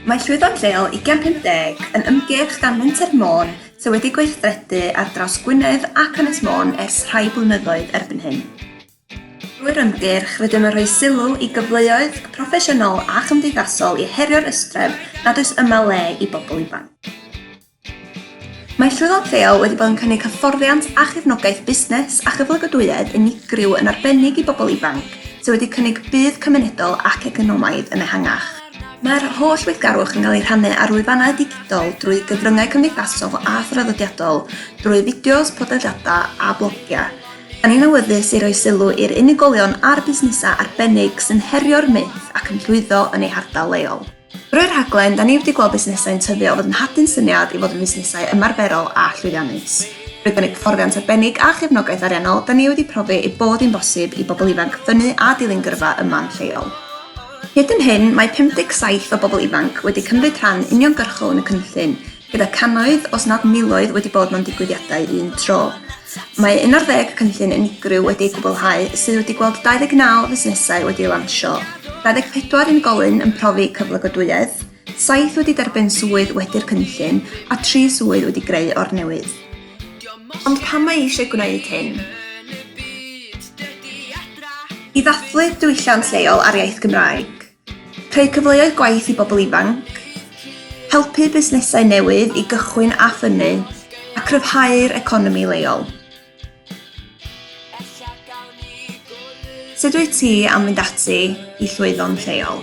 Mae Llwyfan Lleol Ugain 50 yn ymgyrch gan Menter Môn sydd wedi gweithredu ar draws Gwynedd ac Ynys Môn ers rhai blynyddoedd erbyn hyn. Drwy'r ymgyrch, rydym yn rhoi sylw i gyfleoedd proffesiynol a chymdeithasol i herio'r ystreb nad oes yma le i bobl ifanc. Mae Llwyfan Lleol wedi bod yn cynnig hyfforddiant a chefnogaeth busnes a chyflogadwyedd unigryw yn arbennig i bobl ifanc sydd wedi cynnig budd cymunedol ac economaidd yn ehangach. Mae'r holl weithgarwch yn cael ei rhannu ar lwyfannau digidol, drwy gyfryngau cymdeithasol a thraddodiadol, drwy fideos, podlediadau a blogiau. Da ni'n awyddus i roi sylw i'r unigolion a'r busnesau arbennig sy'n herio'r myth ac yn llwyddo yn eu hardal leol. Drwy'r rhaglen, da ni wedi gweld busnesau'n tyfu o fod yn hadyn syniad i fod yn fusnesau ymarferol a llwyddiannus. Drwy gynnig hyfforddiant arbennig a chefnogaeth ariannol, da ni wedi profi ei bod hi'n bosib i bobl ifanc ffynnu a dilyn gyrfa yma'n lleol. Hyd yn hyn, mae 57 o bobl ifanc wedi cymryd rhan uniongyrchol yn y cynllun, gyda cannoedd os nad miloedd wedi bod mewn digwyddiadau un tro. Mae 11 cynllun unigryw wedi eu gwblhau sydd wedi gweld 29 fusnesau wedi eu lansio, 24 unigolyn yn profi cyflogadwyedd, 7 wedi derbyn swydd wedi'r cynllun a 3 swydd wedi greu o'r newydd. Ond pam mae eisiau gwneud hyn? I ddathlu diwylliant leol a'r iaith Gymraeg. Creu cyfleoedd gwaith i bobl ifanc, helpu busnesau newydd i gychwyn a ffynnu, a chryfhau'r economi leol. Sut wyt ti am fynd ati i llwyddo'n lleol?